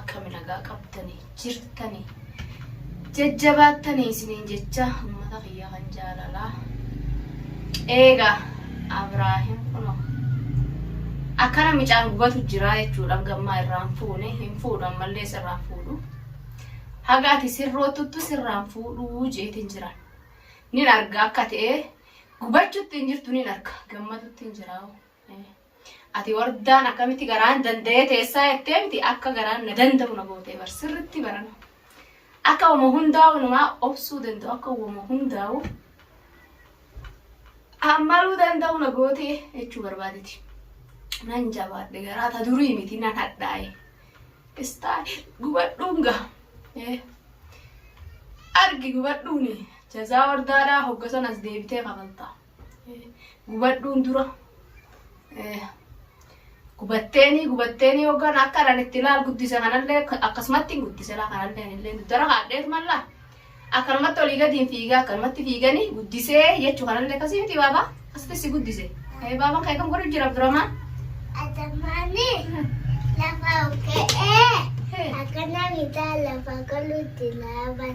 akkami nagaa qabdanii jirtanii jajjabaattanii isiniin jecha ummata kiyya kan jaalalaa eega abraahim kuno akkana micaan gubatu jiraa jechuudha gammaa irraan fuune hin fuudhu ammallee sirraan fuudhu haga ati sirrootuttu sirraan fuudhuu jeetiin jiran nin arga akka ta'e gubachutti hin jirtu nin arga gammatutti hin jiraa. Ati wardaan akkamitti garaan danda'ee teessaa jettee miti akka garaan na danda'u na gootee bar sirritti barana. Akka wama hundaa wanumaa obsuu danda'u akka wama hundaa'u ammaluu danda'u na gootee jechuu barbaadeti. Nan jabaadhe garaa ta durii miti nan hadhaa'e. Istaa gubadhuun gaha. Eh. Argi gubadhuuni jazaa wardaadhaa hoggasan as deebitee kafaltaa. gubadhuun dura gubatteeni gubatteeni yookaan akka dhan itti laal guddisa kanallee akkasumatti hin guddisa laa kanallee illee dara haadheet malla akkanumatti olii gadi hin fiiga akkanumatti fiiganii guddisee jechuu kanallee akkasii miti baaba asitti si guddise baabaan kan kam godhu jira duramaa. Adamani lafa kee akana mita lafa kaluti laban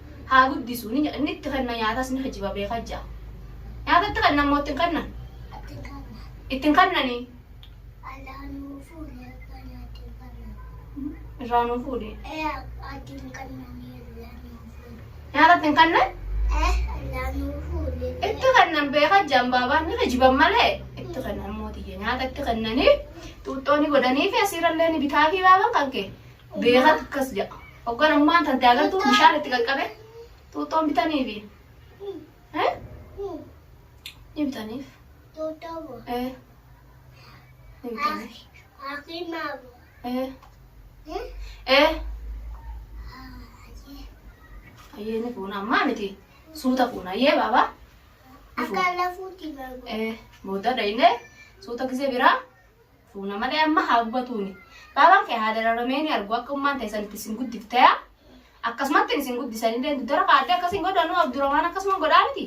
haa guddisu, ni nyaata, inni itti kenna, nyaatas ni hijba, beeka ja'a. Nyaata itti kennan moo itti hin kennan? Itti hin kennan. Itti hin kennanii? Allaa nuu fuudhe akka nyaatti hin kennan. Irraa nuu fuudhe. Ee atti hin kennanii allaa nuu fuudhe. Nyaata itti hin kennan? Ee allaa nuu fuudhe. Itti kennan beeka ja'an baabaan ni hijban malee itti kennan mootiyyee nyaata itti kennanii xuuxxoo ni godhanii fi asiirallee ni bitaa fi baaban kan kee Beekatu akkas jedha. Hogganummaan tante agartuu bishaan itti qaqqabe xuuxxoon bitaniifi. Eh? Ni bitaniif. Eh. Ni bitaniif. Eh. Eh. Ayyee ni fuuna ammaa miti. Suuta fuuna ayyee baabaa. Ni fuuna. Eh. Booda dhayinee suuta gisee biraa. Fuuna malee amma haa gubatuuni. Baabaan kee haa dararamee ni argu akka ummaan teessan itti isin guddifteya. Akkasumatti isin guddisanillee dudara kaadde akkas hin godhanu Abduramaan akkasuma godhaa miti.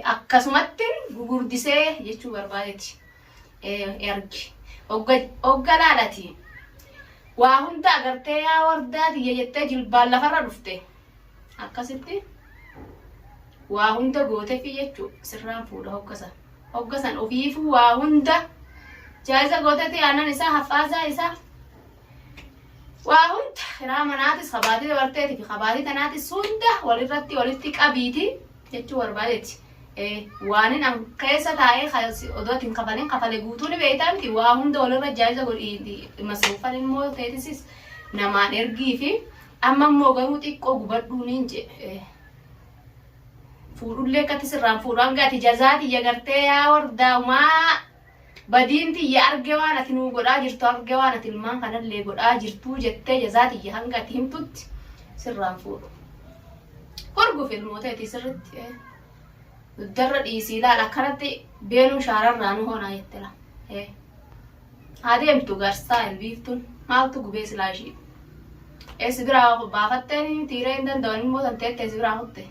Akkasumatti gugurdisee jechuu barbaadeti. Ergi. Ogga laalati. Waa hunda agartee yaa wardaa tiyya jettee jilbaan lafarra dhufte. Akkasitti waa hunda gootefi jechuu sirraan fuudha hoggasa. Hogga san ufiifuu waa hunda jaa'iza gooteeti aannan isaa, haffaasaa isaa, waa hunda kiraa manaatis ka baatii dabarteeti fi ka baatii tanaatis hunda walirratti walitti qabiiti jechuu barbaadeeti. Eh, waanin an keessa taa'ee ka- si- odoo ati hin kafalin kafale guutuu ni beektaa miti waa hunda walirra jaa'iza godhi masruufan immoo teetisis namaan ergii fi amma immoo garuu xiqqoo gubadhuu niin jedhe. Eh, fuudhullee akkatti sirraan fuudhu hanga ati jazaa tiyya gartee yaa wardaa umaa badiin tiyya arge waan ati nuu godhaa jirtu arge waan ati ilmaan kanallee godhaa jirtuu jettee jazaa tiyya hanga ati himtutti sirraan fuudhu. Horguuf ilmoota itti sirritti eh. dugdarra dhiisii laala akkanatti beenuu shaararraa nu hoonaa jettela. Eh. Haa deemtu garsaa hin biiftuun maaltu gubee silaa ishii. Eessi biraa baafatteen tiiree hin danda'an immoo tan teettee si biraa kutte.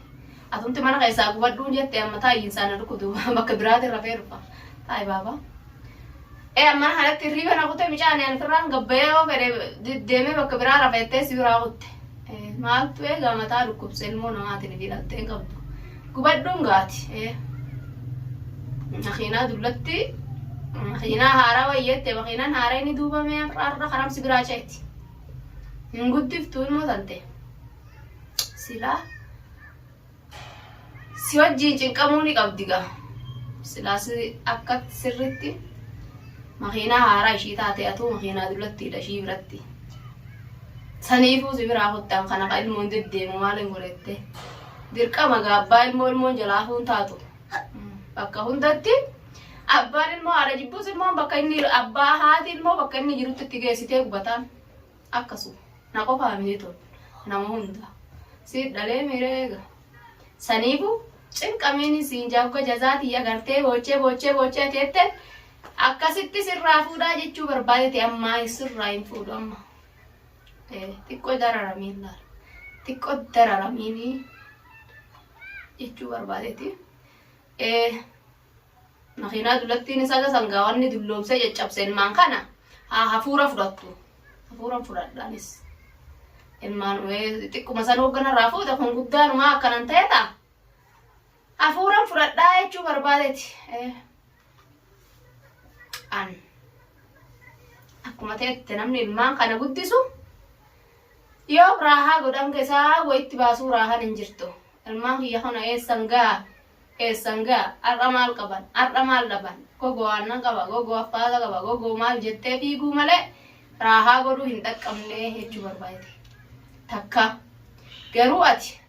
Atumti mana keessaa gubadhuun jette amma taa'ii hin saana dhukudu bakka biraati rafee dhufa. Taa'i baaba. Ee amma mana kanatti hirriiba na kutee micaan ani firraan gabbayee yoo fedhe deemee bakka biraa rafeettee si biraa kutte. Maaltu eegaa mataa dhukkubse ilmoo namaatiin fi dhaltee hin qabdu. Gubadhuun gaati. Makiinaa dullatti makiinaa haaraa wayyeette makiinaan haaraa inni duubame har'a karamsi biraa ceeti. Hin guddiftu ilmoo tante. Silaa si wajjin cinqamuu ni qabdi gaa. Silaa si akka sirriitti makiinaa haaraa ishii taate atuu makiinaa dullattiidha ishii biratti. Saniifuu si biraa kottaan kana ka ilmoon deddeemu maal hin godhette. Dirqama gaa abbaa ilmoo ilmoon jalaa hafuun taatu. Bakka hundatti abbaan ilmoo haadha jibbus ilmoon bakka inni abbaa haati ilmoo bakka inni jirutti itti geessitee gubataan akkasuma. Na qofaa miti tun nama hunda. Si dhalee mireega. Saniifu cinqamiin siin jaabga jazaatii agartee boochee boochee boochee teette akkasitti sirraa fuudhaa jechuu barbaadete ammaa sirraa hin fuudhu amma. xiqqoo dararamee laal xiqqoo dararamee jechuu barbaadeeti. Makiinaa dulattiin isaa ga sangaawwanni dulloomsee caccabse ilmaan kana haa hafuura fudhattu. Hafuura fudhadhaanis. Ilmaan xiqquma san hoogganarraa fuuta kun guddaanumaa akkanan ta'edha. Hafuura fudhadhaa jechuu barbaadeeti. an akkuma ta'etti namni ilmaan kana guddisu yoo raahaa godhan keessaa wayitti baasuu raahan hin jirtu ilmaan kiyya kana eessan gaa eessan gaa har'a maal qaban har'a maal dhaban gogoo aannan qaba gogoo affaata qaba gogoo maal jettee fiiguu malee raahaa godhuu hin dhaqqabne jechuu barbaade takka garuu ati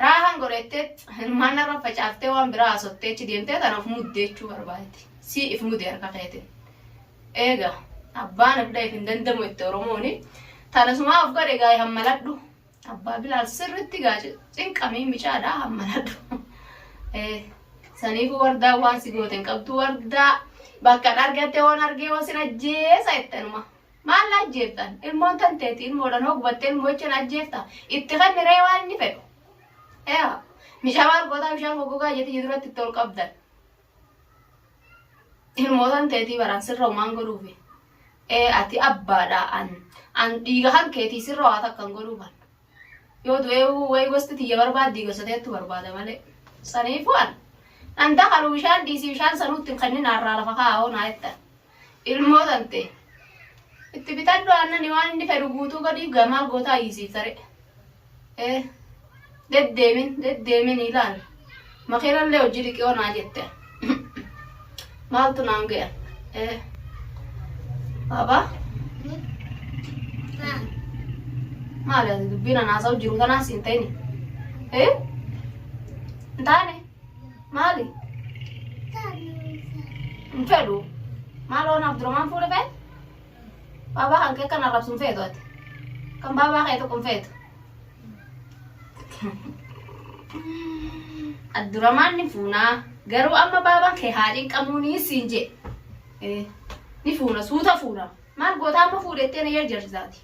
Raahan godhettee hirmaannaa irra facaaftee waan biraa haasoftee achi deemtee tana of muddee jechuu barbaadde. Si if mude harka keetiin. Eega abbaan of dhaheef hin dandamu itti Oromooni. Tana sumaa of godhe gaa'e hammaladhu. Abbaa Bilaal sirritti gaa cinqamii micaadhaa hammaladhu. Saniifuu wardaa waan si goote hin qabdu wardaa bakka dhargatte waan argee waan sin ajjeesa jettanuma. Maal na ajjeeftan? Ilmoon tan teeti ilmoodhaan hoo gubattee ilmoo jecha na ajjeefta? Itti kenni ree waan inni fedhu. Yaa mishaa maal gootaa bishaan goggogaa jetti jiduratti itti ol qabdan. Ilmoo tan teetii baraan sirra umaan godhuufi. Ee ati abbaadha an an dhiiga kan keetii sirra waa takkan godhuufan. Yoo du'eehu way gosti tiyya barbaaddii gosa teettu barbaada malee. Saniifuu an nan dakalu bishaan dhiisii bishaan sanuu itti hin kennin harraa lafa kaa'oo naa jettan. Ilmoo tantee. Itti bitadhu aannani waan inni fedhu guutuu godhiif gaa maal gootaa iyyisiifta ree. Eh. Deddeemin deddeemin ilaali. Makiinallee hojii dhiqiyoo naa jette. Maaltu naan gaya? Eh. Baba. Maali ati dubbiin anaasaa jiru tanaa siin ta'ini? Eh? Hin taane? Maali? Hin fedhu. Maaloo naaf durumaan fuula fee? Baabaa kan kee kan arrabsu hin feetu ati. Kan baabaa kee tokko hin feetu. Abduramaan ni fuunaa garuu amma baabaan kee haadhiin qamuunii siin jee ni fuuna suuta fuuna maal gootaa amma fuudhettee na jarjarsaati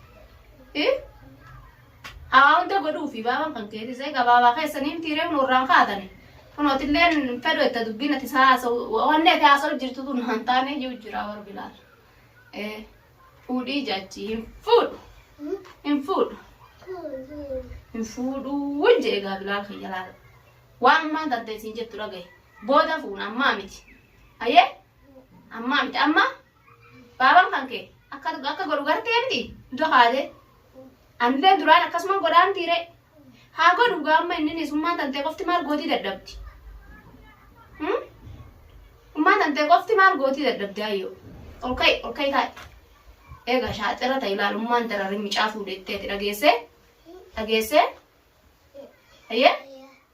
hawaa hunda godhuufi baabaan kan keetis egaa baabaa keessanii miti reefnu irraan kaatani kunootillee fedhu itti dubbiin ati haasa'u wanni ati haasa'u jirtu tun hantaanee jiru jira warra bilaal. Fuudhii jaachi hin fuudhu. Hin fuudhu. Hin fuudhuu hin jee egaa bilaal kiyya laala. Waan ammaa tarte isin jettu dhagaye. Booda fuuna ammaa miti. Ayyee ammaa miti amma baabaan kan kee akka akka godhu gartee miti iddoo kaatee. Anillee duraan akkasuma godhaan tiiree. Haa godhu gaa amma inni isummaan tantee qofti maal gootii dadhabdi? Hmm? Ummaan tantee qofti maal gootii dadhabdi ayyoo? Ol ka'i ol ka'i taa'i. Egaa shaaxira ta'i ilaalummaan dararri micaa fuudhettee ti dhageessee? Dhageessee? Ayyee?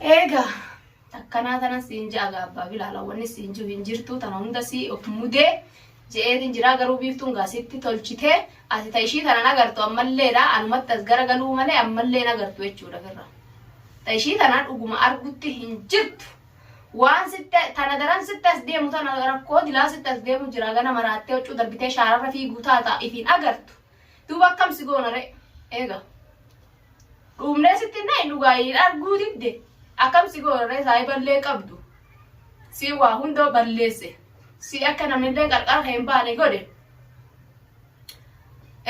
Eega akkanaa tana siin ja'a gaabbaa bilaala wanni siin jiru hin jirtu tana hunda si of mudee je'eetiin jiraa garuu biiftuun gaasitti tolchitee ati ta ishii tanan agartu ammalleedha anumatti as gara galuu malee ammallee agartu jechuudha firra. Ta ishii tanaan dhuguma argutti hin jirtu. Waan sitti tana daran sitti as deemu tana rakkoo dilaa sitti as deemu jira gana maraattee huccuu darbitee shaararra fiiguu taata ifiin agartu. Duuba akkam si goona ree? Eega. Dhuumnee sitti hin dhahin dhugaa hin arguu didde. Akkam si goona ree saahiballee qabdu. Si waa hundoo balleesse. Si akka namnillee qarqara kee hin baane godhe.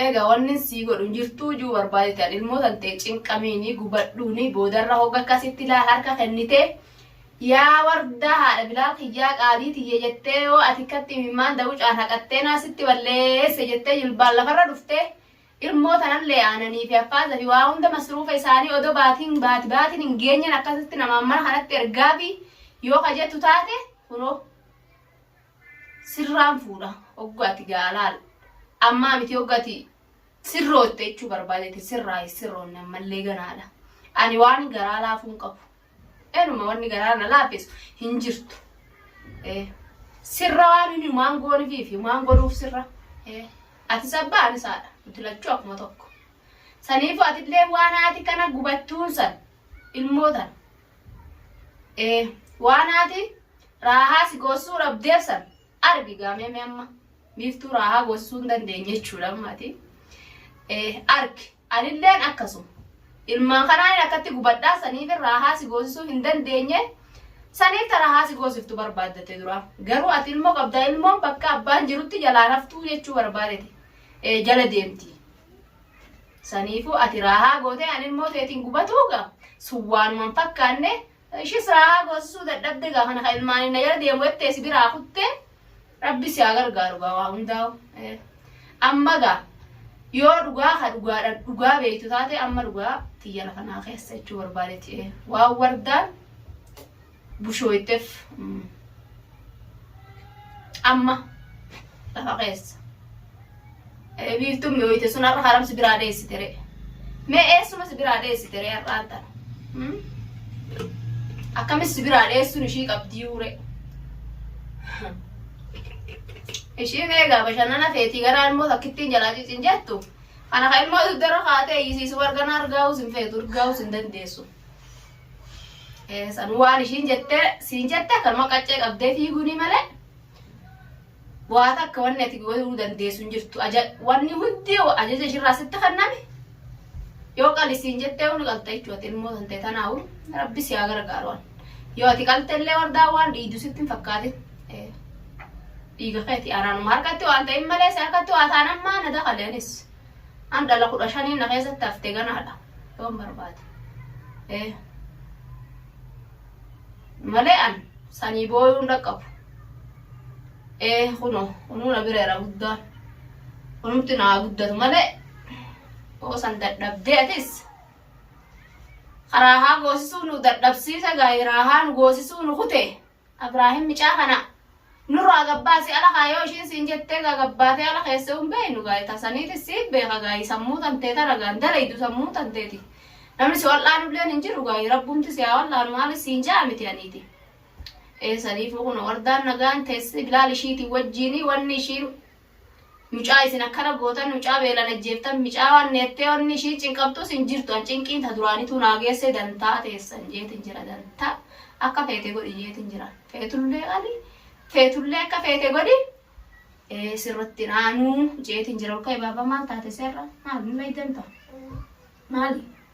Egaa wanni sii godhu jirtuu juu barbaadetan ilmoo tantee cinqamiini gubadhuuni boodarra hogga akkasitti laa harka kennitee Yaa wardaa haadha bilaal kiyyaa qaalii tiyya jettee yoo ati kkatti imimmaan dawucaan haqattee naa sitti balleesse jettee jilbaan lafarra dhuftee ilmoo tanallee aananii fi affaaza fi waa hunda masruufa isaanii odoo baatiin baati baatiin hin geenyen akkasitti namaan mana kanatti ergaa fi yoo ka jettu taate kunoo sirraan fuudha oggu ati gaalaal ammaa miti oggu ati sirrootte jechuu barbaadete sirraa sirroonne ammallee ganaadha ani waan garaa laafuun qabu Enuma wanni garaa na laafeessu hin jirtu. Eh, Sirra waan inni humaan goonifiif humaan godhuuf sirra. Eh, Atis abbaa anis haadha. Nuti lachuu akkuma tokko. Saniifu atillee waan haati kana gubachuun san ilmoo tana. Eh, Waan haati raahaa si goosuu dhabdeef san argi gaamee mee amma. Biiftuu raahaa goosuu hin dandeenye jechuudha ammaati. Eh, Argi. Anilleen akkasuma. Ilmaan kanaanin akkatti gubadhaa saniif raahaa si goosisuu hin dandeenye saniif ta raahaa si goosiftu barbaaddatte duraa. Garuu ati ilmoo qabda ilmoon bakka abbaan jirutti jalaan haftuu jechuu barbaadete. Ee jala deemti. Saniifuu ati raahaa gootee an ilmoo teetiin gubatuu ga sun waanuman fakkaanne Ishi siraa boosisuu dadhabde gaa kana ka ilmaanin na jala deemu jettee si biraa kutte rabbi si haa gargaaru gaa waa hundaa'u. Amma gaa yoo dhugaa ka dhugaadha dhugaa beektu taate amma dhugaa tiyya lafa naa keessa jechuu barbaadetti waan wardaan bushooyteef amma lafa keessa. Ee biiftuun mi'ooyte sun har'a haram si biraa dheessite ree? Mee eessuma si biraa dheessite ree har'aan tana? Hmm? Akkamis si biraa dheessuun ishii qabdiyuu ree? Ishii meegaa bashannana feetii garaa ilmoo takkittiin jalaa cicin jettu. Kana kan ilmoo dugdara kaatee iyyisiisu argana argaa'uus hin feetu argaa'uus hin dandeessu. Eh, San waan ishiin jettee siin jette akkanuma qaccee qabdee fiiguunii malee waa takka wanni ati godhuu dandeessu hin jirtu aja wanni hundi ajaja ishirraa sitti kenname yoo qalisiin jettee ol qalta jechuudha ati ilmoo tante tanaawu rabbi si haa gargaaru waan yoo ati qalte illee wardaa waan dhiidu sitti hin fakkaatin Eh, dhiiga keeti anaanuma harkatti waan ta'in malee si harkatti waa taan ammaa na dakaleenis an dhala kudha shanii na keessatti hafte ganaadha yoon barbaade. Eh. malee an sanii booyuun dhaqqabu ee kuno kunuu na bireera guddaan kunumti naa guddatu malee oo san dadhabdee atis karaahaa goosisuu nu dadhabsiisa gaayiraahaa nu goosisuu nu kutee Abraahim micaa kana nurraa gabbaasi ala kaa yoo ishiin siin jettee gaa gabbaatee ala keessee hin beeynu gaa ita saniitis siif beeka gaa sammuu tantee tana gaa hin dalaydu sammuu tanteeti namni si wal'aanu illeen hin jiru gaa rabbumti si haa wal'aanu maalis siin ja'a miti aniiti ee saniifuu kun wardaan nagaan teessi bilaal ishiitiin wajjiinii wanni ishiin Mucaa isin akkana gootan mucaa beelan ajjeeftan micaa waan neettee wanni ishiin cinqamtuus hin jirtu an cinqiin ta duraanituu naa geessee dantaa teessan jeetin jira danta akka feete godhi jeetin jira feetullee qali feetullee akka feete godhi ee sirratti naanuu jeetin jira olka'e baaba maal taate seerra maal mul'ay danta maali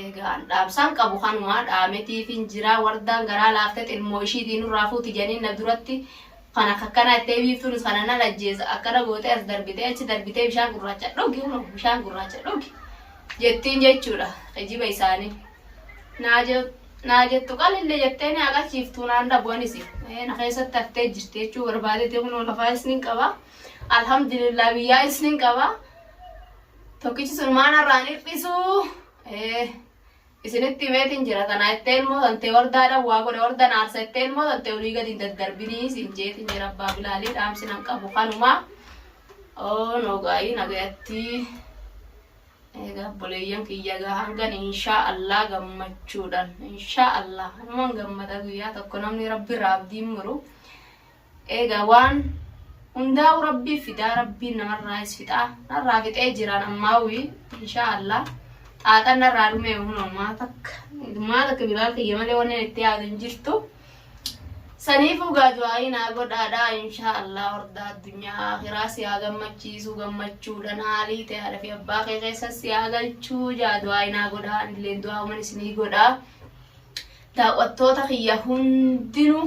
Eegaan dhaamsaan qabu kanuma dhaametiifin jira wardaan garaa laaftet ilmoo ishiitii nurraa fuuti janiin na duratti kan akka akkanaa ittee biiftuunis kana nan ajjeesa akkana gootee as darbitee achi darbitee bishaan gurraacha dhugi huno bishaan gurraacha dhugi jettiin jechuudha kijiba isaanii naa je- naa jettu qalille jettee ni aqachiiftuu naan dhabu anisi Eh, na keessatti haftee jirti jechuu barbaadete kunoo lafaa isnin qaba alhamdulillah biyyaa isnin qaba Tokkichi sun maanarraan hir'isu isinitti himeetiin jira tanaa itti ilmoo tantee wardaadhaan waa godhe warda naarsa itti ilmoo tantee olii gadi hin daddarbinii siin jeetiin jira abbaa bilaalii dhaamsi nan qabu kanumaa. Oo noogaayii nagayatti egaa obboleeyyan kiyya gaa hangan inshaa Allah gammachuudhaan inshaa Allah hanuman gammada guyyaa tokko namni rabbi irraa abdiin muru Eegaa waan hundaa'u rabbii fidaa rabbiin namarraayis fixaa narraa fixee jiraan ammaawi inshaa allah xaaxan narraa dhumee hunoo maa takka maa takka bilaal kiyya malee wanneen itti yaadu hin jirtu saniifuu gaa du'aayii naa godhaadhaa inshaa allah hordaa addunyaa akiraa si haa gammachiisuu gammachuudhaan haalii ta'e haadha fi abbaa kee keessa si haa galchuu jaa du'aayii naa godhaa anilleen du'aa uman isinii godhaa daawwattoota kiyya hundinuu